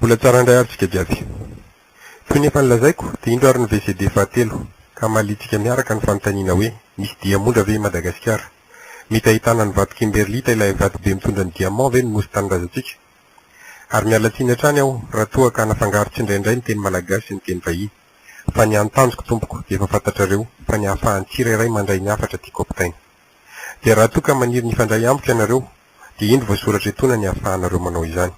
Mbola tsara indray ary tsika jiaby. Toy ny efa nilazaiko dia indro ary ny VCD fahatelo ka mahaliantsika miaraka ny fanontaniana hoe misy diamondra ve i Madagasikara? Mety ahitana ny vato kimberlita ilay vato be mitondra ny diamant ve ny nosy tanindrazantsika? Ary miala tsiny hatrany aho raha toa ka nafangaro tsindraindray ny teny malagasy sy ny teny vahiny fa ny any tanjoko tompoko dia efa fantatrareo fa ny ahafahan'ny tsirairay mandray ny hafatra tiako ampitaina Dia raha toa ka maniry ny hifandray amiko ianareo, dia indro voasoratra etoana ny ahafahanareo manao izany.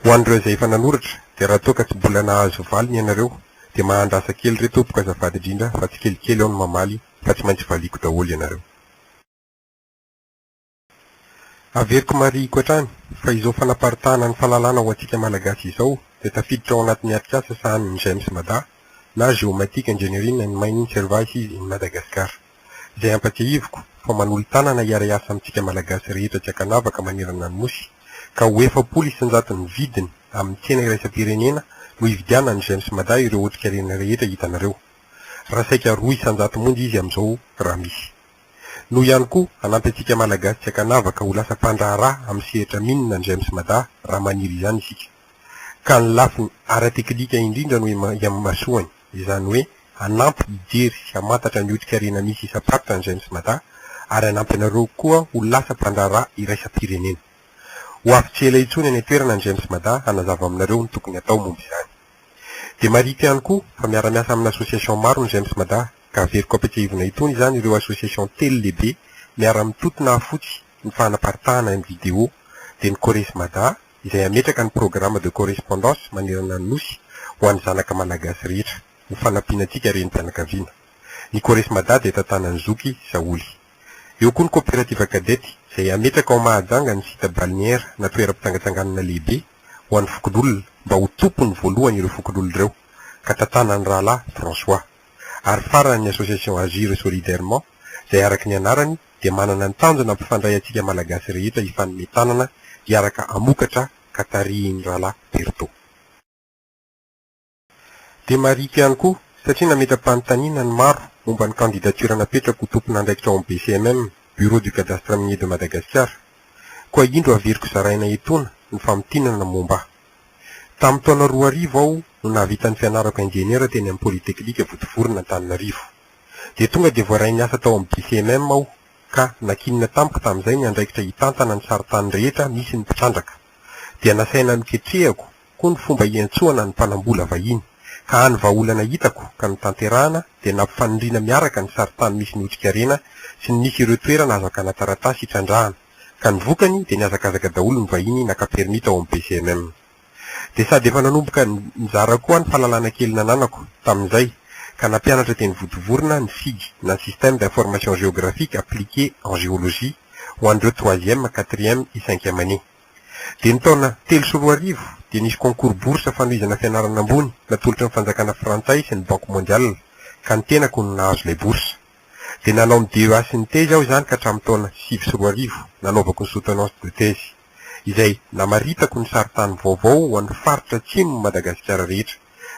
Ho an'ireo izay efa nanoratra, dia raha toa ka tsy bola nahazo valiny ianareo, dia mahandrasa kely re tompoko azafady indrindra fa tsikelikely aho no mamaly fa tsy maintsy valiako daholo ianareo. Averiko marihiko hatrany fa izao fanaparitahana ny fahalalana ho antsika Malagasy izao dia tafiditra ao anatin'ny atrikasa sahanin'ny GEMS Mada na Géomatique Engineering and Mining Services in Madagascar. izay ampatsiahiviko fa manolo-tanana hiara-hiasa amintsika Malagasy rehetra tsy ankanavaka manerana ny Nosy ka ho efapolo isanjato ny vidiny amin'ny tsena iraisam-pirenena no hividianan'ny Gems Mada ireo otrikarena rehetra hitanareo raha saika roa isanjato monja izy amin'izao raha misy no ihany koa hanampy antsika Malagasy tsy ankanavaka ho lasa mpandraharaha amin'ny sehatra minina ny Gems Mada raha maniry izany isika ka ny lafiny ara-teknika indrindra no imasoany izany hoe hanampy hijery sy hamantatra ny otrik'harena misy isam-paritra ny Gens Mada ary hanampy anareo koa ho lasa mpandraharaha iraisam-pirenena. Ho avy tsy ela intsony any an-toerana ny Gens Mada hanazava aminareo ny tokony hatao momba izany. Dia marihiko ihany koa fa miara-miasa amina association maro ny Gens Mada ka averiko ampiatsehivina itony izany ireo association telo lehibe miara-mitoto nahafotsy ny fanaparitahana ny video dia ny Cores Mada, izay hametraka ny programme de correspondance manerana ny Nosy ho an'ny zanaka Malagasy rehetra, ho fanampiana antsika renim-pianakaviana. Ny Corresmada dia tantanan'ny zoky Saholy. Eo koa ny Coopérative Cadet izay hametraka ao Mahajanga ny site balnéaire na toeram-pitsangatsanganana lehibe ho an'ny fokonolona mba ho tompony voalohany ireo fokonolona ireo, ka tantanan'ny rahalahy François. Ary farany ny Association Agir Solidairement izay araka ny anarany, dia manana ny tanjona hampifandray antsika Malagasy rehetra hifanome tanana hiaraka hamokatra ka tarihin'ny Rahalahy Berto. Dia marihiko ihany koa, satria nametra-panontaniana ny maro momba ny candidature napetrako ho tompon'andraikitra ao amin'ny BCMM, Bureau du Cadastre Minier de Madagasikara. Koa indro averiko zaraina etoana ny famintinana momba ahy. Tamin'ny taona roa arivo aho no nahavita ny fianarako injeniera teny amin'ny Polytechnique Vontovorona Antananarivo. Dia tonga dia voaray niasa tao amin'ny BCMM aho ka nankinina tamiko tamin'izay ny andraikitra hitantana ny sarintany rehetra misy ny mpitrandraka. Dia nasaina noketrehako koa ny fomba hiantsoana ny mpanambola vahiny, ka hany vahaolana hitako ka notanterahana dia nampifanindriana miaraka ny sarintany misy ny otrikarena sy ny misy ireo toerana azo hakana taratasy hitrandrahana, ka ny vokany dia nihazakazaka daholo ny vahiny naka permis tao amin'ny BCMM. Dia sady efa nanomboka nizara koa aho ny fahalalana kely nananako, tamin'izay, ka nampianatra teny Votovorona ny sig na Système d'Information Géographique Appliqué en Géologie ho an'ireo troisième, quatrième et cinquième année. Dia ny taona telo sy roa arivo dia nisy concours bourse fanohizana fianarana ambony natolotry ny fanjakana frantsay sy ny Banque Mondiale ka ny tenako no nahazo ilay bourse. Dia nanao ny DEA sy ny thèse aho izany ka hatramin'ny taona sivy sy roa arivo nanaovako ny soutenance de thèse. izay namaritako ny sarintany vaovao ho an'ny faritra atsimon'i Madagasikara rehetra,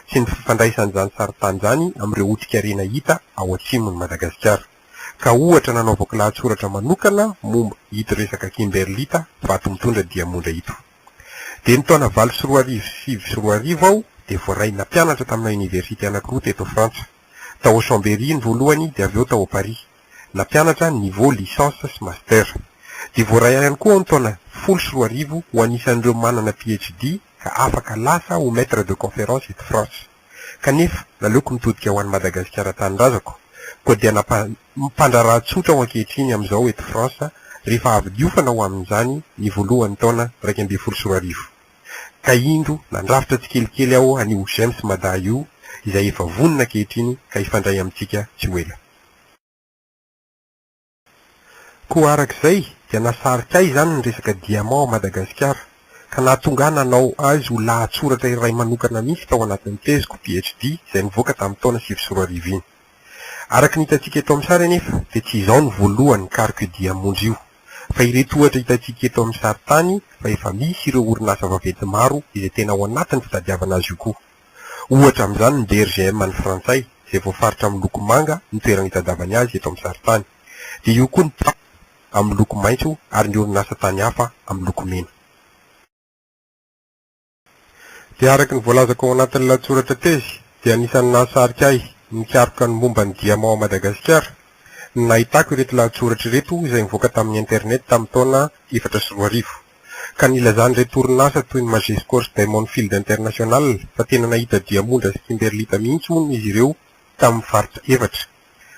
sy ny fifandraisan'izany sarintany izany amin'ireo otrikarena hita ao atsimon'i Madagasikara, ka ohatra nanaovako lahatsoratra manokana momba ito resaka kimberlita vato mitondra diamondra ito. Dia ny taona valo sy roa arivo sy sivy sy roa arivo aho dia voaray nampianatra tamina oniversite anankiroa teto Frantsa, tao Chambéry ny voalohany dia avy eo tao Paris. nampianatra ny niveau licence sy master. Dia voaray ihany koa aho ny taona folo sy roa arivo ho anisan'ireo manana PhD ka afaka lasa ho maitre de conférence eto France. Kanefa naleoko nitodika ho any Madagasikara tanindrazako, koa dia nampa mpandraharaha tsotra aho ankehitriny amin'izao eto France rehefa avy niofana ho amin'izany ny voalohan'ny taona iraika ambin'ny folo sy roa arivo. Ka indro nandrafitra tsikelikely aho an'io GEMS Mada io izay efa vonona ankehitriny ka hifandray amintsika tsy ho ela. Koa araka izay dia nasarika ahy izany ny resaka diamant ao Madagasikara, ka nahatonga ahy nanao azy ho lahatsoratra iray manokana mihitsy tao anatin'ny teziko, PhD, izay nivoaka tamin'ny taona sivy sy roa arivo iny. Araka ny hitantsika eto amin'ny sary anefa dia tsy izaho no voalohany nikaroka io diamondra io, fa ireto ohatra hitantsika eto amin'ny sary tany fa efa misy ireo orinasa vaventy maro izay tena ao anatin'ny fitadiavana azy io koa. Ohatra amin'izany ny DRGM an'ny Frantsay izay voafaritra amin'ny loko manga ny toerana itadiavany azy eto amin'ny sarintany. Dia eo koa ny Pam amin'ny loko maitso ary ny orinasa tany hafa amin'ny loko mena. Dia araka ny voalazako ao anatin'ny lahatsoratra tezy dia anisan'ny nahasarika ahy ny nikaroka ny momba ny diamant ao Madagasikara ny nahitako ireto lahatsoratra ireto izay nivoaka tamin'ny internet tamin'ny taona efatra sy roa arivo. ka nilazan'ireto orinasa toy ny Majescors Diamond Field International fa tena nahita diamondra sy kimberlita mihitsy hono izy ireo tamin'ny faritra efatra,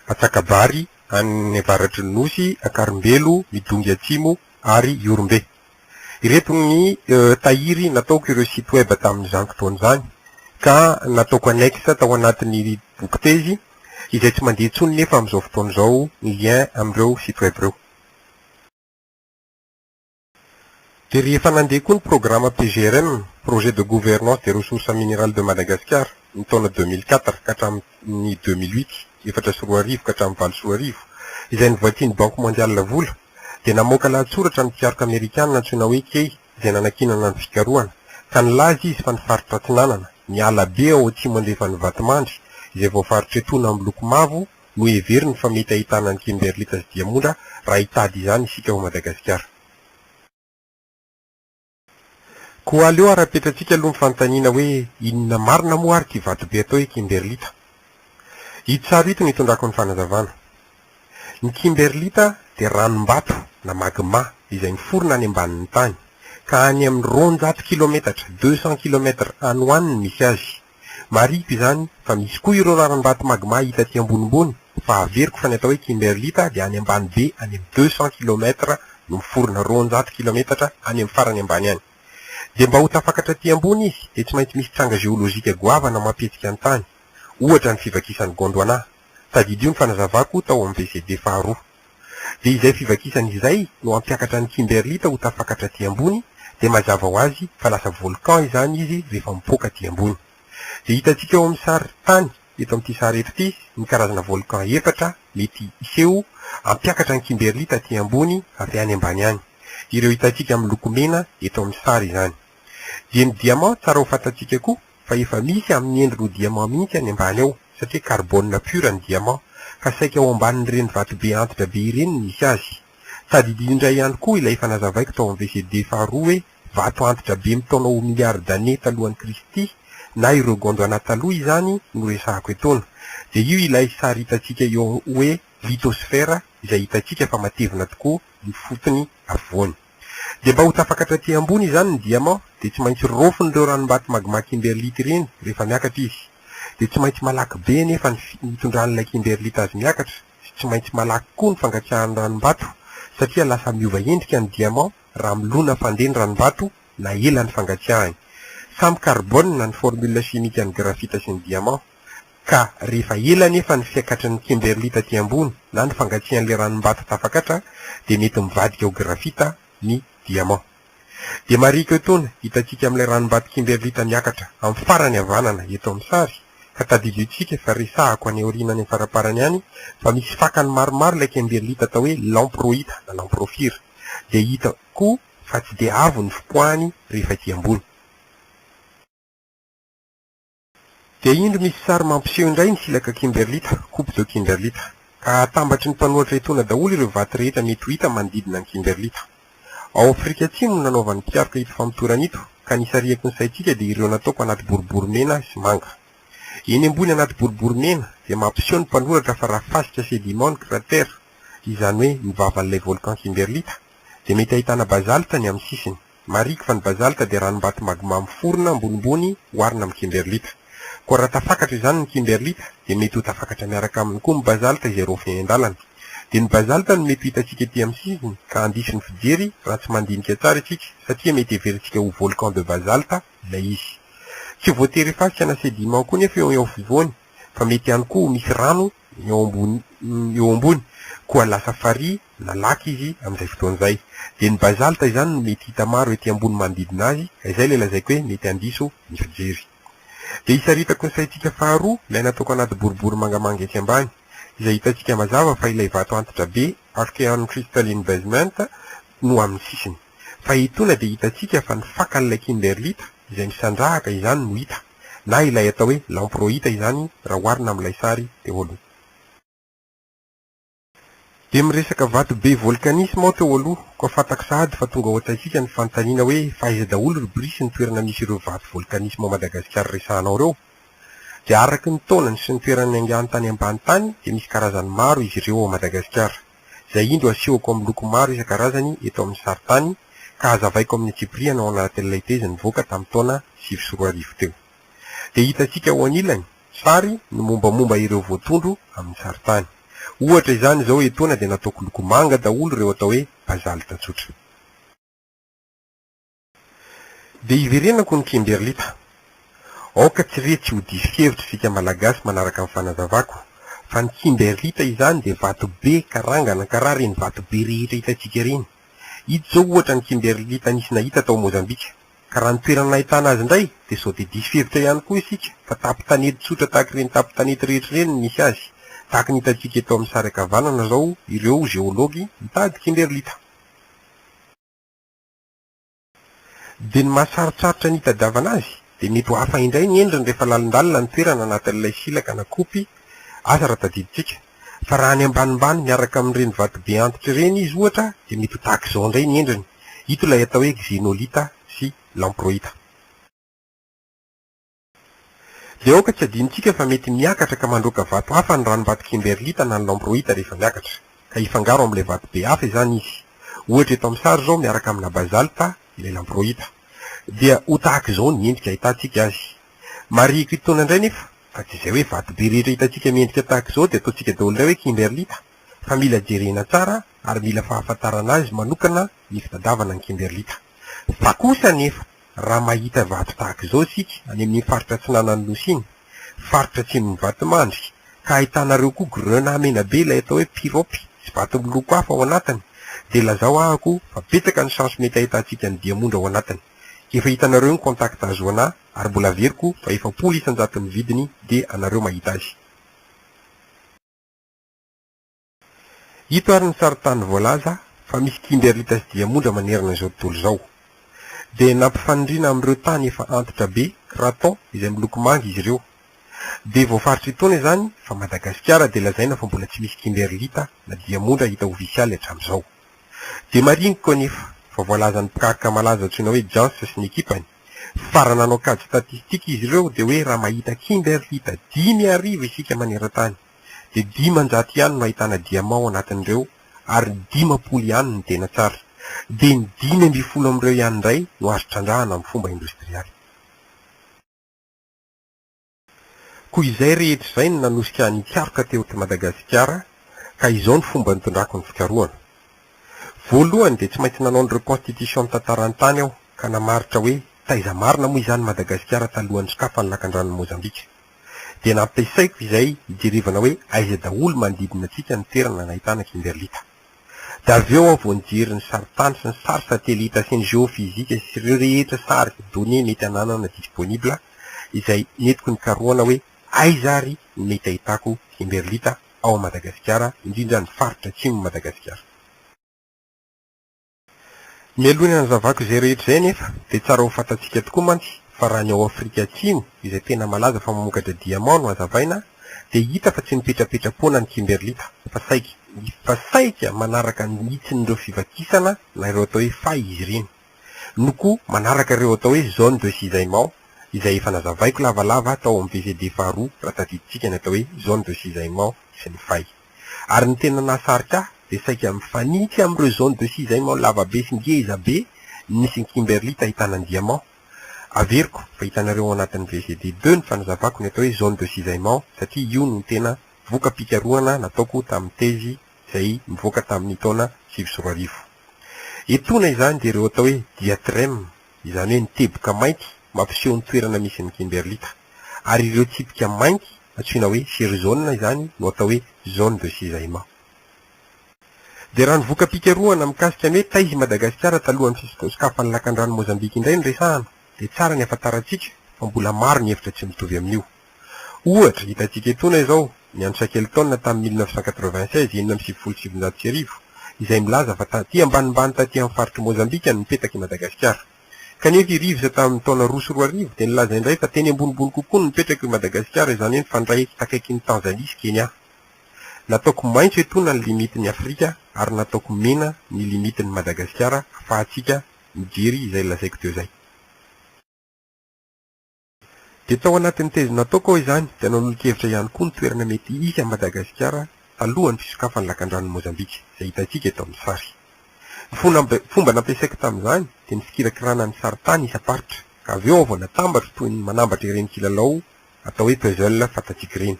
Antsakabary, any avaratry ny Nosy, Ankarimbelo, Midongy Atsimo ary Ihorombe. Ireto ny tahiry nataoko ireo site web tamin'izany fotoana izany ka nataoko annexe tao anatin'ny bokitezy izay tsy mandeha intsony nefa amin'izao fotoana izao ny lien amin'ireo site web ireo. Dia rehefa nandeha koa ny programa PGRM, Projet de Gouvernance des Ressources Minerales de Madagascar, ny taona deux mille quatre ka hatramin'ny deux mille huit, efatra sy roa arivo ka hatramin'ny valo sy roa arivo, izay novakian'ny Banky Mondiale vola, dia namoaka lahatsoratra ny mpikaroka amerikana antsoina hoe Kay izay nanankinana ny fikarohana, ka nilaza izy fa ny faritra Atsinanana, ny ala be ao atsimo andrefan'i Vatomandry izay voafaritry etona miloko mavo, Noheveriny fa mety ahitana an'i Kimberlita sy Diamondra raha hitady izany isika ao Madagasikara. Koa aleo ara-petrantsika aloha ny fanontaniana hoe inona marina moa ary ity vatobe atao hoe Kimberlita? Ito sary ito no itondrako ny fanazavana. Ny Kimberlita dia ranom-bato na magma izay miforona any ambanin'ny tany, ka any amin'ny roanjato kilometatra, deux cents kilomètres, any ho any ny misy azy. Marihiko izany fa misy koa ireo raram-bato magma hita aty ambonimbony fa averiko fa ny atao hoe kimberlite dia any ambany be any amin'ny deux cents kilomètres no miforona roanjato kilometatra any amin'ny farany ambany any. Dia mba ho tafakatra aty ambony izy dia tsy maintsy misy tranga geolojika goavana mampihetsika ny tany. Ohatra ny fivakisan'i Gondwana. Tadidio ny fanazavako tao amin'ny VCD faharoa. Dia izay fivakisana izay no hampiakatra an'i Kimberlita ho tafakatra aty ambony, dia mazava ho azy fa lasa volcan izany izy rehefa mipoaka aty ambony. Dia hitantsika eo amin'ny sary tany eto amin'ity sary eto ity ny karazana volcan efatra mety hiseho hampiakatra an'i Kimberlita aty ambony avy any ambany any. Ireo hitantsika miloko mena eto amin'ny sary izany. Dia ny diamant tsara ho fantantsika koa fa efa misy amin'ny endriny ho diamant mihitsy any ambany ao satria carbone pure ny diamant ka saika ao ambanin'ireny vatobe antitra be ireny no misy azy. Tadidio indray ihany koa ilay efa nazavaiko tao amin'ny VCD faharoa hoe vato antitra be mitaona ho milliards d'années talohan'i Kristy na ireo Gondwana taloha izany no resahako etoana dia io ilay sary hitantsika eo hoe lithosphère izay hitantsika fa matevina tokoa ny fotony afovoany. Dia mba ho tafakatra aty ambony izany ny diamant dia tsy maintsy rofon'ireo ranom-bato magma kimberlite ireny rehefa miakatra izy. Dia tsy maintsy malaky be anefa ny fitondran'ilay kimberlite azy miakatra sy tsy maintsy malaky koa ny fangatsiahan'ny ranom-bato satria lasa miova endrika ny diamant raha milona fandeha ny ranom-bato na ela ny fangatsiahany. Samy carbone ny formule chimique ny graphite sy ny diamant. ka rehefa ela anefa ny fiakatry ny kimberly taty ambony na ny fangatsiahan'ilay ranom-bato tafakatra dia mety mivadika ho grafita ny diamant. Dia marihiko etoana hitantsika amin'ilay ranom-bato kimberlita miakatra amin'ny farany havanana eto amin'ny sary ka tadidion-tsika fa resahako any aoriana any amin'ny faraparany any fa misy fakany maromaro ilay kimberlita atao hoe lamproita na lamprofira dia hita koa fa tsy dia avo ny fipoahany rehefa ety ambony. Dia indro misy sary mampiseho indray ny silaka kimberlita, coupe de kimberlita, ka hahatambatry ny mpanohatra etoana daholo ireo vato rehetra mety ho hita manodidina ny kimberlita. Ao Afrika Atsimo no nanaovan'ny mpikaroka ito famotorana ito, ka ny isarihako ny saintsika dia ireo nataoko anaty boribory mena sy manga. Eny ambony anaty boribory mena dia mampiseho ny mpanoratra fa raha fasika sediment ny cratère, izany hoe ny vavan'ilay volcan kimberlita, dia mety ahitana basalte ny amin'ny sisiny. Mariky fa ny bazalta dia ranom-bato magma miforona ambonimbony oharina amin'ny kimberlita. Koa raha tafakatra izany ny kimberlita, dia mety ho tafakatra miaraka aminy koa ny bazalta izay raofiny eny an-dalana. Dia ny bazalta no mety ho hitantsika ety amin'ny sisiny ka handiso ny fijery raha tsy mandinika tsara isika satria mety heverintsika ho volcan de basalte ilay izy. Tsy voatery efa asiana sediment koa nefa eo afovoany fa mety ihany koa ho misy rano ny ombony eo ambony, koa lasa farihy na lac izy amin'izay fotoana izay. Dia ny basalta izany no mety hita maro ety ambony manodidina azy, ka izay ilay lazaiko hoe mety handiso ny fijery. Dia isaritako ny saintsika faharoa ilay nataoko anaty boribory mangamanga etsy ambany, izay hitantsika mazava fa ilay vato antitra be, Archean Crystalline Basement, no amin'ny sisiny. fa etoana dia hitantsika fa ny fakan'ilay kimberlita izay misandrahaka izany no hita, na ilay atao hoe lamproita izany raha oharina amin'ilay sary teo aloha. Dia miresaka vato be volkanisma aho teo aloha, koa fantako sahady fa tonga ao an-tsaintsika ny fanontaniana hoe fa aiza daholo ry Bry sy ny toerana misy ireo vato volkanisma ao Madagasikara resahanao ireo? Dia araka ny taonany sy ny toerany niaingany tany ambany tany dia misy karazany maro izy ireo ao Madagasikara. izay indro asehoko amin'ny loko maro isan-karazany eto amin'ny sarintany ka hazavaiko amin'ny antsipirihany ao anatin'ilay tezy nivoaka tamin'ny taona sivy sy roa arivo teo. Dia hitantsika ao anilany, sary, ny mombamomba ireo voatondro amin'ny sarintany. Ohatra izany izao etoana dia nataoko loko manga daholo ireo atao hoe basalta tsotra. Dia hiverenako ny Kimberlita. Aoka tsy re tsy ho diso kevitra isika Malagasy manaraka ny fanazavako fa ny Kimberlita izany dia vato be karangana karaha ireny vato be rehetra hitantsika ireny. Ito izao ohatra ny Kimberlita nisy nahita tao Mozambika. Ka raha ny toerana nahitana azy indray dia sao dia diso hevitra ihany koa isika fa tapo-tanety tsotra tahaka ireny tapo-tanety rehetra ireny no misy azy. Tahaka ny hitantsika eto amin'ny sary ankavanana izao ireo Geology mitady Kimberlita. Dia ny mahasarotsarotsa ny hitadiavana azy dia mety ho hafa indray ny endriny rehefa lalindalina ny toerana anatin'ilay silaka na kopy aza raha tadidintsika. Fa raha any ambanimbany miaraka amin'ireny vatobe antitra ireny izy ohatra dia mety ho tahaka izao indray ny endriny. Ito ilay atao hoe xenolita sy lamproita. Dia aoka tsy adinontsika fa mety miakatra ka mandroaka vato hafa ny ranom-bato kimberlita na ny lamproita rehefa miakatra, ka hifangaro amin'ilay vato be hafa izany izy. Ohatra eto amin'ny sary izao miaraka amina bazalta ilay lamproita. Dia ho tahaka izao ny endrika ahitantsika azy. Marihiko itoana indray nefa fa tsy izay hoe vato be rehetra hitantsika miendrika tahaka izao dia ataontsika daholo indray hoe kimberlita, fa mila jerena tsara ary mila fahafantarana azy manokana ny fitadavana ny kimberlita. Fa kosa anefa. Raha mahita vato tahaka izao isika any amin'iny faritra atsinanan'ny Nosy iny, faritra atsimon'ny Vatomandry, ka ahitanareo koa grenat menabe ilay atao hoe pirope sy vato miloko hafa ao anatiny, dia lazao ahako fa betsaka ny chance mety ahitantsika ny diamondra ao anatiny. Efa hitanareo ny contact ahazoana ahy ary mbola averiko fa efapolo isan-jato ny vidiny dia anareo mahita azy. Ito ary ny sarintany voalaza fa misy kimbiarita sy diamondra manerana izao tontolo izao. Dia nampifanindriana amin'ireo tany efa antitra be, cratons, izay miloko manga izy ireo. Dia voafaritry itaona izany fa Madagasikara dia lazaina fa mbola tsy misy kimberlita na diamondra hita ofisialy hatramin'izao. Dia mariniko anefa fa voalazan'ny mpikaroka malaza antsoina hoe Jans sy ny ekipany fa raha nanao kajy statistika izy ireo dia hoe raha mahita kimberlita dimy arivo isika manerantany, dia dimanjato ihany no ahitana diamant ao anatin'ireo ary dimampolo ihany no tena tsara. Dia ny dimy ambin'ny folo amin'ireo ihany indray no azo trandrahana amin'ny fomba indostrialy. Koa izay rehetra izay no nanosika an'i Karoka teo eto Madagasikara ka izao ny fomba nitondrako ny fikarohana. Voalohany dia tsy maintsy nanao ny reconstitution ny tantaran'ny tany aho ka namaritra hoe taiza marina moa izany Madagasikara talohan'ny sokafan'ny lakandranon'i Mozambika. dia nampiasaiko izay hijerevana hoe aiza daholo manodidina antsika ny toerana nahitana kimberlita. Dia avy eo aho vao nijery ny sarintany sy ny sary satelita sy ny geofizika sy ireo rehetra sary, données, mety hananana disponible izay nentiko nikarohana hoe aiza ary no mety ahitako kimberlita ao Madagasikara, indrindra ny faritra atsimon'i Madagasikara. Mialoha ny hanazavako izay rehetra izay anefa dia tsara ho fantatsika tokoa mantsy fa raha ny ao Afrika Atsimo izay tena malaza fa mamokatra diamant no hazavaina dia hita fa tsy mipetrapetra-poana ny kimberlita fa saika fa saika manaraka ny hitsin'ireo fivakisana na ireo atao hoe fay izy ireny no koa manaraka ireo atao hoe zone de cisaillement izay efa nazavaiko lavalava tao amin'ny VCD faharoa raha tadidintsika ny atao hoe zone de cisaillement sy ny fay. ary ny tena nahasarika ahy dia saika mifanitsy amin'ireo zone de cisaillement lavabe sy ngezabe nisy ny Kimberly tahitana ny diamant. Averiko fa hitanareo ao anatin'ny VCD deux ny fanazavako ny atao hoe zone de cisaillement satria io no tena voka-pikarohana nataoko tamin'ny tezy izay nivoaka tamin'ny taona sivy sy roa arivo. Etoana izany dia ireo atao hoe diatreme izany hoe ny teboka mainty mampiseho ny toerana misy ny kimberlita, ary ireo tsipika mainty antsoina hoe sirizaonina izany no atao hoe zone de cisaillement. Dia raha ny voka-pikarohana mikasika ny hoe taiza i Madagasikara talohan'ny fisokasokafan'ny lakandrano Mozambika indray no resahana, dia tsara ny afantarantsika fa mbola maro ny hevitra tsy mitovy amin'io. Ohatra, hitantsika etoana izao ny an'i Shackleton tamin'ny mille neuf cent quatre-vingt-seize, enina amby sivifolo sy sivinjato sy arivo, izay milaza fa taty ambanimbany taty amin'ny faritr'i Mozambika no nipetaka i Madagasikara. Kanefa i Reeves tamin'ny taona roa sy roa arivo dia nilaza indray fa teny ambonimbony kokoa no nipetraka i Madagasikara, izany hoe nifandray takaikin'i Tanzania sy Kenya. Nataoko maitso etoana ny limitin'i Afrika ary nataoko mena ny limitin'i Madagasikara afahantsika mijery izay lazaiko teo izay. Dia tao anatin'ny teziny nataoko aho izany, dia nanolon-kevitra ihany koa ny toerana mety hisy an'i Madagasikara talohan'ny fisokafan'ny lakandranon'i Mozambika, izay hitantsika eto amin'ny sary. Ny fomba nampiasaiko tamin'izany dia ny fikirakirana ny sarintany isam-paritra, ka avy eo aho vao natambatro toy ny manambatra ireny kilalao atao hoe puzzle fantatsika ireny.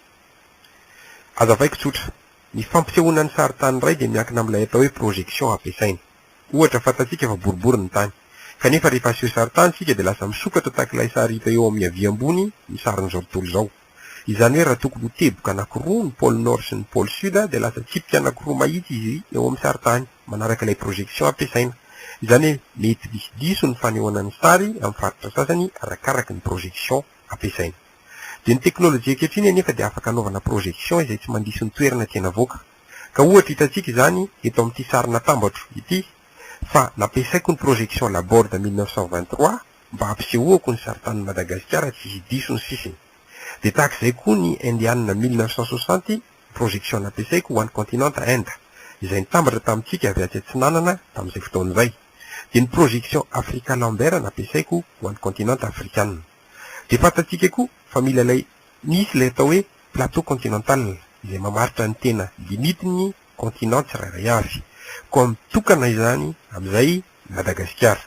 Hazavaiko tsotra, ny fampisehoana ny sarintany iray dia miankina amin'ilay atao hoe projection ampiasaina. Ohatra, fantatsika fa boribory ny tany. Kanefa rehefa aseho sarintany isika dia lasa misokatra tahaka ilay sary hita eo amin'ny havia ambony ny sarin'izao tontolo izao. Izany hoe raha tokony ho teboka anankiroa ny pôle Nord sy ny pôle Sud dia lasa tsipika anankiroa mahitsy izy eo amin'ny sarintany manaraka ilay projection ampiasaina. Izany hoe mety misy diso ny fanehoana ny sary amin'ny faritra sasany arakaraky ny projection ampiasaina. Dia ny teknolojia ankehitriny anefa dia afaka anaovana projection izay tsy mandiso ny toerana tiana avoaka. Ka ohatra hitantsika izany eto amin'ity sary natambatro ity fa nampiasaiko ny projection Laborde mille neuf cent vingt-trois mba hampisehoako ny saritanin'i Madagasikara tsy hisy diso ny sisiny. Dia tahaka izay koa ny Indiana mille neuf cent soixante projection nampiasaiko ho an'ny continente Inde izay nitambatra tamintsika avy atsy atsinanana tamin'izay fotoana izay. Dia ny projection Africa Lambert nampiasaiko ho an'ny continente Afrikana. Dia fantantsika koa fa mila ilay misy ilay atao hoe plateau continental, izay mamaritra ny tena limite-n'ny continent tsirairay avy. Koa mitokana izany amin'izay i Madagasikara.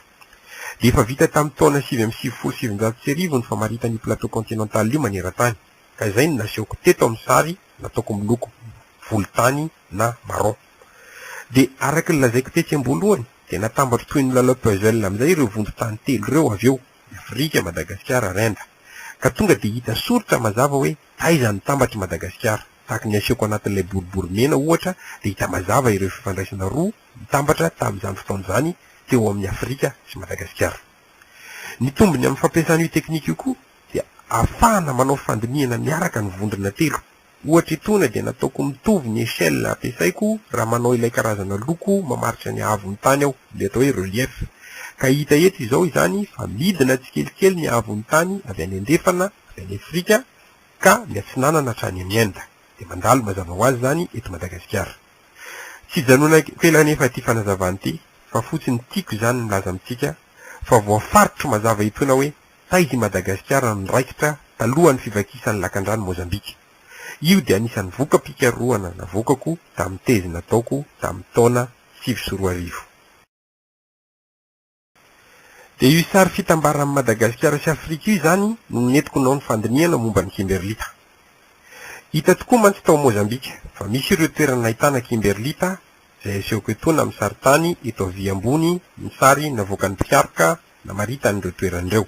Dia efa vita tamin'ny taona sivy amby sivifolo sy sivinjato sy arivo ny famaritana io plateau continental io maneran-tany, ka izay no nasehoko teto amin'ny sary nataoko miloko volontany na marron. Dia araka ny lazaiko tetsy am-boalohany, dia natambatro toy ny lalao puzzle amin'izay ireo vondron-tany telo ireo avy eo. ny Afrika, Madagasikara, Renda. Ka tonga dia hita soritra mazava hoe taiza ny tambatr'i Madagasikara. Tahaka ny asehoko anatin'ilay boribory mena, ohatra, dia hita mazava ireo fifandraisana roa nitambatra tamin'izany fotoana izany teo amin'ny Afrika sy Madagasikara. Ny tombony amin'ny fampiasana io teknika io koa dia ahafahana manao fandinihana miaraka ny vondrona telo. Ohatra etoana dia nataoko mitovy ny échelle ampiasaiko raha manao ilay karazana loko mamaritra ny haavon'ny tany aho, ilay atao hoe relief. Ka hita eto izao izany fa midina tsikelikely ny haavon'ny tany avy any andrefana, avy any Afrika, ka miatsinanana hatrany any Inde. Dia mandalo mazava ho azy izany eto Madagasikara. Tsy ijanonako ela anefa ity fanazavana ity fa fotsiny tiako izany milaza amintsika fa voafaritro mazava etoana hoe Taiza i Madagasikara no niraikitra talohan'ny fivakisan'ny lakandrano Mozambika? Io dia anisan'ny voka-pikarohana navoakako tamin'ny tezy nataoko tamin'ny taona sivy sy roa arivo. Dia io sary fitambaran'i Madagasikara sy Afrika io izany no nentiko nanao ny fandinihana momba ny kimberlita. Hita tokoa mantsy tao Mozambika fa misy ireo toerana nahitana kimberlita izay asehoko etoana amin'ny sarin-tany eto havia ambony ny sary navoakan'ny mpikaroka namaritany ireo toerana ireo.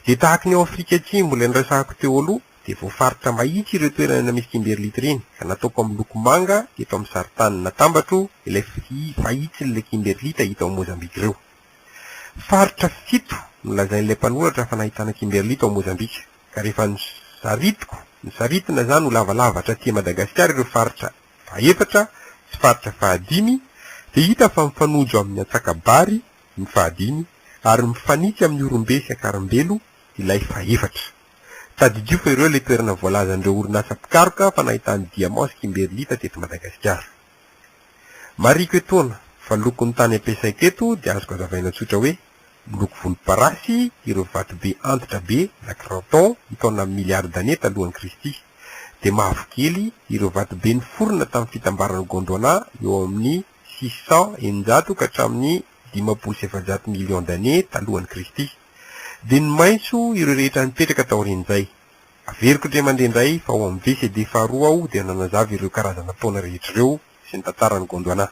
Dia tahaka ny ao Afrika Atsimo ilay niresahako teo aloha dia voafaritra mahitsy ireo toerana misy kimberlite ireny ka nataoko amin'ny loko manga eto amin'ny sarintany natambatro ilay fahitsin'ilay kimberlite hita ao Mozambika ireo. Faritra fito no lazain'ilay mpanoratra fa nahitana kimberlite ao Mozambika ka rehefa nosaritiko, nosaritina izany ho lavalava hatraty Madagasikara ireo faritra fahaefatra sy faritra fahadimy dia hita fa mifanojo amin'ny antsakabary ny fahadimy, ary mifanitsy amin'ny orombe sy akarambelo ilay fahefatra. Tadidio fa ireo ilay toerana voalazan'ireo orinasa mpikaroka fa nahitany diamant sy kimberlita teto Madagasikara. Marihiko etoana fa loko ny tany ampiasaiko eto dia azoko azavaina tsotra hoe miloko volomparasy ireo vatobe antitra be na cranton ntaona milliards d'années talohan'i Kristy, dia mavokely ireo vatobe niforona tamin'ny fitambaran'ny Gondwana eo amin'ny six cents eninjato ka hatramin'ny dimampolo sy efajato millions d'années talohan'i Kristy. Dia ny maitso ireo rehetra nipetraka taorian'izay. Averiko indray mandeha indray fa ao amin'ny VCD faharoa aho dia nanazava ireo karazana taona rehetra ireo sy ny tantaran'i Gondwana.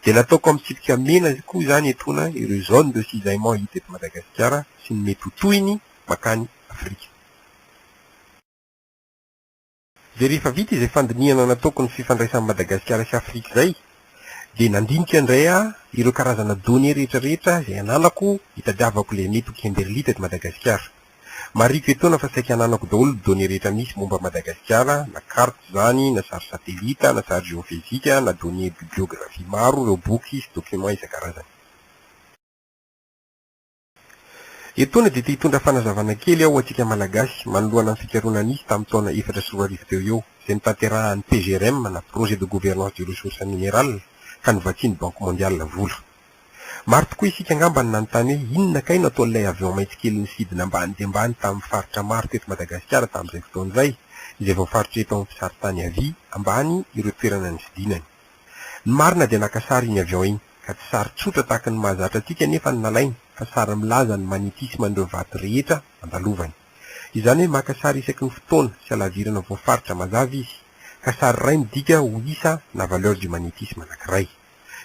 Dia nataoko amin'ny tsipika mena koa izany etoana ireo zones de cisaillement hita eto Madagasikara sy ny mety ho tohiny mankany Afrika. Dia rehefa vita izay fandinihana nataoko ny fifandraisan'i Madagasikara sy Afrika izay, dia nandinika indray aho ireo karazana données rehetra rehetra izay ananako hitadiavako ilay mety ho Kimberlite eto Madagasikara. Marihiko etoana fa saika ananako daholo ny données rehetra misy momba an'i Madagasikara, na carte izany, na sary satelita, na sary geofezika, na données bibliographie maro, ireo boky sy documents isan-karazany. Etoana dia te hitondra fanazavana kely aho ho antsika Malagasy manoloana ny fikarohana nisy tamin'ny taona efatra sy roa arivo teo eo izay notanterahan'ny PGRM na Projet de Gouvernance du Ressource Mineral ka novatsian'ny Banque Mondiale vola. Maro tokoa isika angamba no nanontany hoe inona kay no ataon'ilay avion mainty kely nisidina ambany dia ambany tamin'ny faritra maro teto Madagasikara tamin'izay fotoana izay izay voafaritreto amin'ny mpisary tany havia ambany ireo toerana nisidinany. Ny marina dia naka sary iny avion iny, ka tsy sary tsotra tahaka ny mahazatra antsika anefa no nalainy, fa sary milaza ny magnetisme an'ireo vato rehetra andalovany. Izany hoe maka sary isaky ny fotoana sy halavirana voafaritra mazava izy, ka sary iray midika ho isa na valeur du magnétisme anankiray.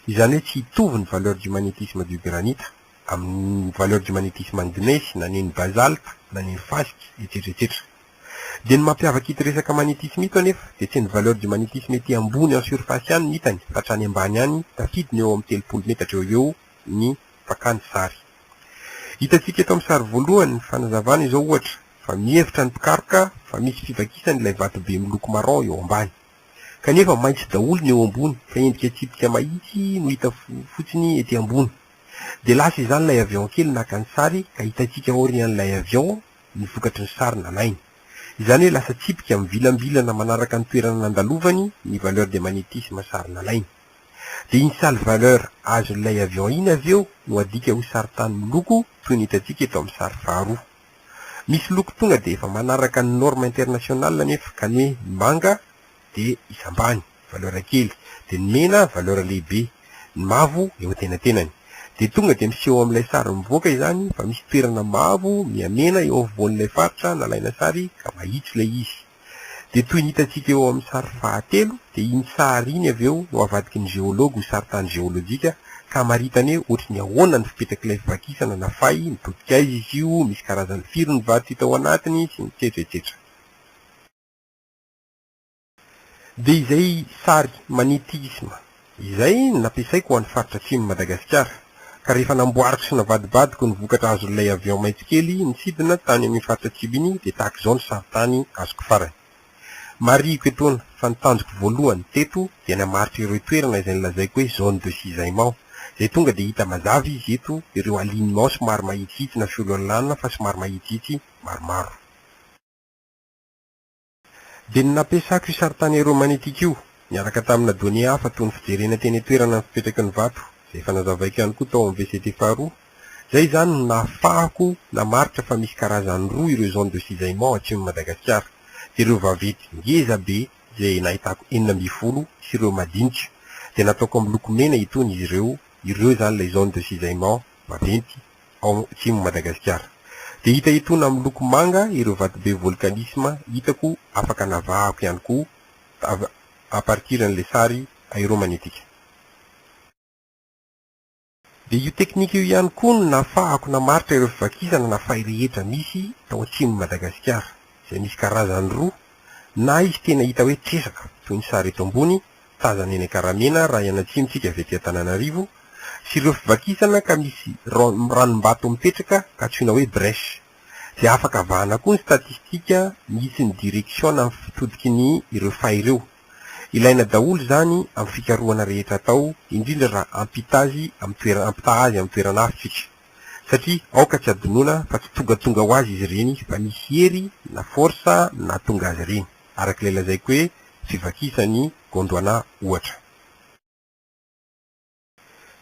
Izany hoe tsy hitovy ny valeur du magnétisme du granite amin'ny valeur du magnétisme an'ny gnesy na ny an'ny basalte na ny an'ny fasika, etsetra etsetra. Dia ny mampiavaka ito resaka magnétisme ito anefa dia tsy ny valeur du magnétisme ety ambony en surface ihany no hitany fa hatrany ambany any tafidiny eo amin'ny telopolo metatra eo ho eo ny fakany sary. Hitantsika eto amin'ny sary voalohany ny fanazavana izao ohatra fa mihevitra ny mpikaroka fa misy fivakisany ilay vatobe miloko marron eo ambany kanefa maitso daholo ny eo ambony fa endrika tsipika mahitsy no hita fotsiny ety ambony dia lasa izany ilay avion kely naka ny sary ka hitantsika aorian'ilay avion ny vokatry ny sary nalainy. Izany hoe lasa tsipika mivilambilana manaraka ny toerana nandalovany ny valeur de magnétisme sary nalainy. Dia iny sale valeur azon'ilay avion iny avy eo no adika ho sarintany miloko toy ny hitantsika eto amin'ny sary faharoa. Misy loko tonga dia efa manaraka ny norme internationale anefa ka ny hoe manga dia izy ambany, valeur kely, dia ny mena valeur lehibe, ny mavo eo an-tenatenany. Dia tonga dia miseho ao amin'ilay sary mivoaka izany fa misy toerana mavo miha-mena eo afovoan'ilay faritra nalaina sary ka mahitsy ilay izy. Dia toy ny hitantsika eo amin'ny sary fahatelo dia iny sary iny avy eo no avadiky ny geologue ho saritany geolojika ka hamaritany hoe ohatry ny ahoana ny fipetrak'ilay fivakisana na fay mitodika aiza izy io, misy karazany firy ny vato hita ao anatiny sy ny tsetsy etsetra. Dia izay sary magnetisme izay no nampiasaiko ho an'ny faritra atsimon'i Madagasikara, ka rehefa namboariko sy navadibadiko ny vokatra azon'ilay avion maitso-kely nisidina tany amin'ny faritra atsimo iny dia tahaka izao ny sarintany azoko farany. Marihiko etoana fa ny tanjoko voalohany teto dia ny hamaritra ireo toerana izay nolazaiko hoe zone de cisaillement, izay tonga dia hita mazava izy eto ireo alignement somary mahitsihitsy na fiololana fa somary mahitsihitsy maromaro. Dia ny nampiasako io sarintany romanitiko io, niaraka tamina données hafa toy ny fijerena teny an-toerana ny fipetraky ny vato, izay efa nazavaiko ihany koa tao amin'ny VCT faharoa. Izay izany no nahafahako namaritra fa misy karazany roa ireo zones de cisaillement atsimon'i Madagasikara. Dia ireo vaventy ngeza be izay nahitako enina ambin'ny folo sy ireo madinika dia nataoko amin'ny loko mena itony izy ireo, ireo izany ilay zones de cisaillement. vaventy ao Atsimo Madagasikara. Dia hita etoana amin'ny loko manga ireo vatobe volcanisme hitako afaka navahako ihany koa avy à partir an'ilay sary aéromagnétique. Dia io teknika io ihany koa no nafahako namaritra ireo fivakisana na fay rehetra misy tao Atsimon'i Madagasikara izay misy karazany roa na izy tena hita hoe tresaka toy ny sary eto ambony tazana eny Ankaramena raha eny atsimontsika avy aty Antananarivo, sy ireo fivakisana ka misy ranombato mipetraka antsoina hoe brèche. Dia afaka vahana koa ny statistika misy ny direction na ny fitodiky ny ireo fay ireo. Ilaina daholo izany amin'ny fikarohana rehetra atao, indrindra raha hampita azy amin'ny toerana, hampitaha azy amin'ny toerana hafa isika. Satria aoka tsy hadinoina fa tsy tongatonga ho azy izy ireny fa misy hery na force nahatonga azy ireny. arak'ilay lazaiko hoe fivakisan'i Gondwana ohatra.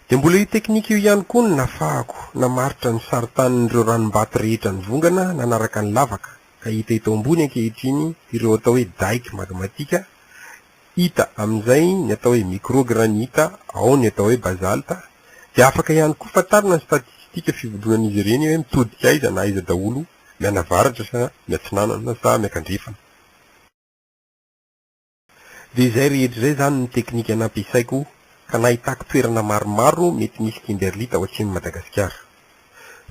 Dia mbola io teknika io ihany koa no nafahako namaritra ny sarintanin'ireo ranom-bato rehetra nivongana nanaraka ny lavaka ka hita eto ambony ankehitriny ireo atao hoe dike magmatika, hita amin'izay ny atao hoe microgranita, ao ny atao hoe basalta, dia afaka ihany koa fantarina ny statistika fivondronan'izy ireny hoe mitodika aiza na aiza daholo mianavaratra sa miatsinanana sa miankandrefana. Dia izay rehetra izay izany ny teknika nampiasaiko ka nahitako toerana maromaro mety misy Kimberlite ao atsimon'i Madagasikara.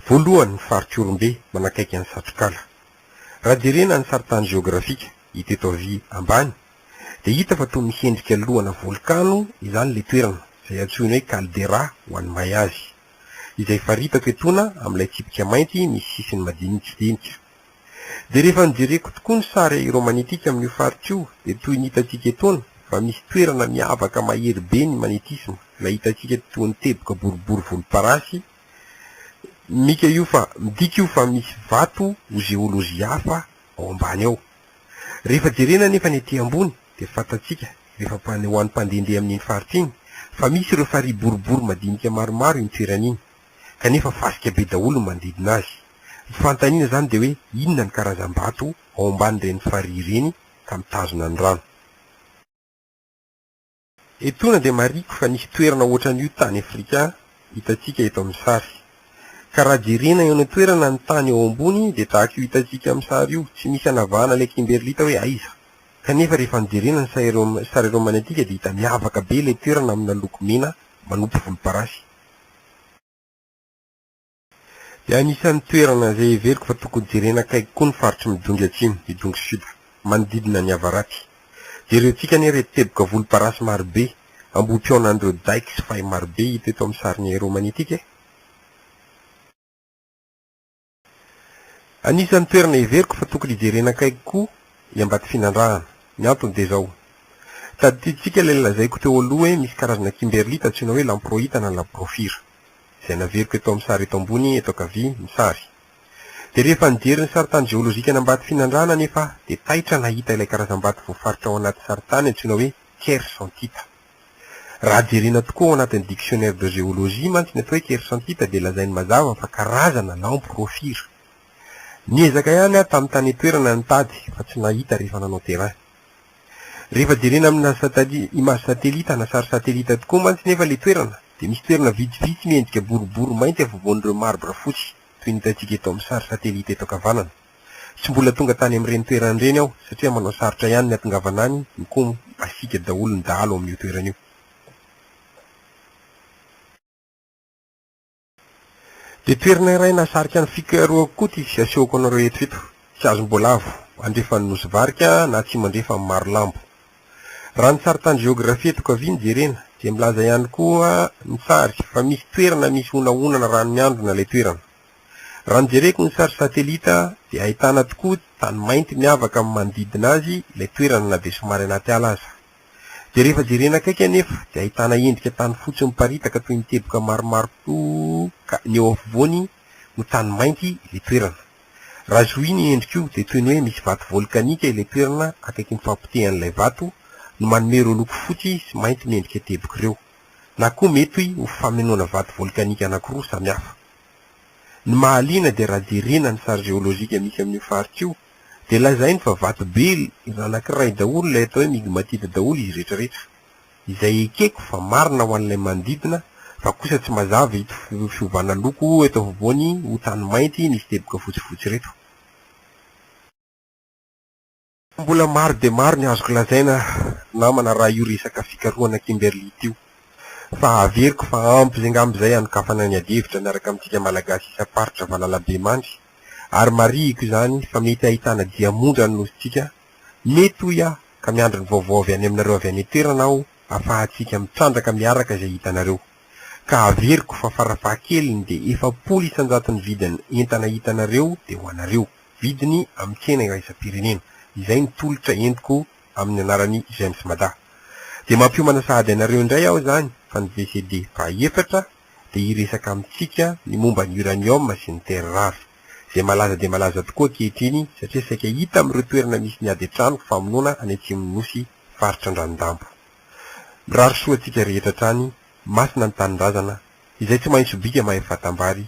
Voalohany ny faritr'Ihorombe manakaiky an'i Satrokala. Raha jerena ny sarintany jeografika hita eto havia ambany dia hita fa toa misy endrika lohana volkano izany ilay toerana izay antsoina hoe caldera ho an'ny mahay azy. izay faritako etoana amin'ilay tsipika mainty misy sisiny madinitsidinika. Dia rehefa nojereko tokoa ny sary romanitika amin'io faritra io dia toy ny hitantsika etoana fa misy toerana miavaka mahery be ny magnetisme ilay hitantsika toa ny teboka boribory volomparasy mika io fa midika io fa misy vato ho zeolozy hafa ao ambany ao rehefa jerena anefa ny ety ambony dia fantatsika rehefa ho an'ny mpandehandeha amin'iny faritra iny fa misy ireo farihy boribory madinika maromaro iny toerana iny kanefa fasika be daholo ny manodidina azy. Ny fanontaniana izany dia hoe inona ny karazam-bato ao ambanin'ireny farihy ireny ka mitazona ny rano? Etoana dia marihiko fa nisy toerana ohatran'io tany Afrika hitantsika eto amin'ny sary. Ka raha jerena eo any an-toerana ny tany eo ambony dia tahaka io hitantsika amin'ny sary io, tsy misy anavahana ilay kimberlita hoe aiza Kanefa rehefa nojerena ny sary eroa magnetika dia hita miavaka be ilay toerana amina loko mena manopy volomparasy. Dia anisan'ny toerana izay heveriko fa tokony jerena akaiky koa ny faritry Midongy Atsimo, Midongy Sud, manodidina ny avaratsy. Jerentsika anie ireto teboka volomparasy marobe, ambohipihaonan'ireo dikes fay marobe hita eto amin'ny sarin'ny aeromanetika e! Anisan'ny toerana heveriko fa tokony hijerena akaiky koa i Ambatofinandrahana. Ny antony dia izao. Tadidintsika ilay lazaiko teo aloha hoe misy karazana kimberlite antsoina hoe lamproita na labrofira, izay naveriko eto amin'ny sary eto ambony eto ankavia ny sary. Dia rehefa nijery ny sarintany jeolojikan'Ambatofinandrahana anefa aho dia taitra nahita ilay karazam-bato voafaritra ao anaty sarintany antsoina hoe kiersantita. Raha jerena tokoa ao anatin'ny Dictionnaire de géologie mantsy ny atao hoe kersantita dia lazainy mazava fa karazana lampo rofira. Niezaka ihany aho tamin'ny tany an-toerana nitady fa tsy nahita rehefa nanao terrain. Rehefa jerena amina image satellite na sary satellite tokoa mantsy nefa ilay toerana dia misy toerana vitsivitsy miendrika boribory mainty afovoan'ireo marbre fotsy toy ny hitantsika eto amin'ny sary satellite eto ankavanana. Tsy mbola tonga tany amin'ireny toerana ireny aho satria manao sarotra ihany ny hatongavana any, mikomy masiaka daholo ny dahalo ao amin'io toerana io. Dia toerana iray nahasarika an'i Flickr koa ity asehoko anareo eto ito. Tsy azom-boalavo, andrefan'ny Nosy Varika na atsimo-andrefan'i Marolambo. Raha ny sarin-tany jeografia eto Kaviana jerena dia milaza ihany koa ny sary fa misy toerana misy honahonana rano miandrona ilay toerana. Raha ny jereko ny sary satelita dia ahitana tokoa tany mainty miavaka amin'ny manodidina azy ilay toerana na dia somary anaty ala aza. Dia rehefa jerena akaiky anefa dia ahitana endrika tany fotsy miparitaka toy ny teboka maromaro toa ka ny eo afovoany no tany mainty ilay toerana. Raha zohina io endrika io dia toy ny hoe misy vato volkanika ilay toerana akaikin'ny fahapotehan'ilay vato no manome ireo loko fotsy sy mainty miendrika teboka ireo. Na koa mety ho famenoana vato volkanika anankiroa samihafa. Ny mahaliana dia raha jerena ny sary geolojika misy amin'io faritra io dia lazainy fa vato be anankiray daholo ilay atao hoe migmatite daholo izy retraretra. Izay ekeko fa marina ho an'ilay manodidina fa kosa tsy mazava ito fiovana loko eto afovoany ho tany mainty misy teboka fotsifotsy ireto. Mbola maro dia maro ny azoko lazaina namana raha io resaka fikarohana Kimberly ity. Fa averiko fa ampy izay ngamba izay hanokafana ny adihevitra miaraka amintsika Malagasy isam-paritra valalabemandry. Ary marihiko izany fa mety hahitana diamondra ny nosintsika. Mety hoy aho ka miandry ny vaovao avy any aminareo avy any an-toerana aho afahantsika mitrandraka miaraka izay hitanareo. Ka averiko fa farafahakeliny dia efapolo isan-jato ny vidin'ny entana hitanareo dia ho anareo. Vidiny amin'ny tsena iraisam-pirenena. Izay ny tolotra entiko amin'ny anaran'i J'aimes Mada. Dia mampiomana sahady anareo indray aho izany fa ny VCD fahaefatra dia hiresaka amintsika ny momba ny uranium sy ny terres rares, izay malaza dia malaza tokoa ankehitriny satria saika hita amin'ireo toerana misy ny ady an-trano famonoana any atsimon'ny Nosy faritra Andranodampy. Mirary soa antsika rehetra hatrany, masina ny tanindrazana, izay tsy mahay sobika mahay fatam-bary,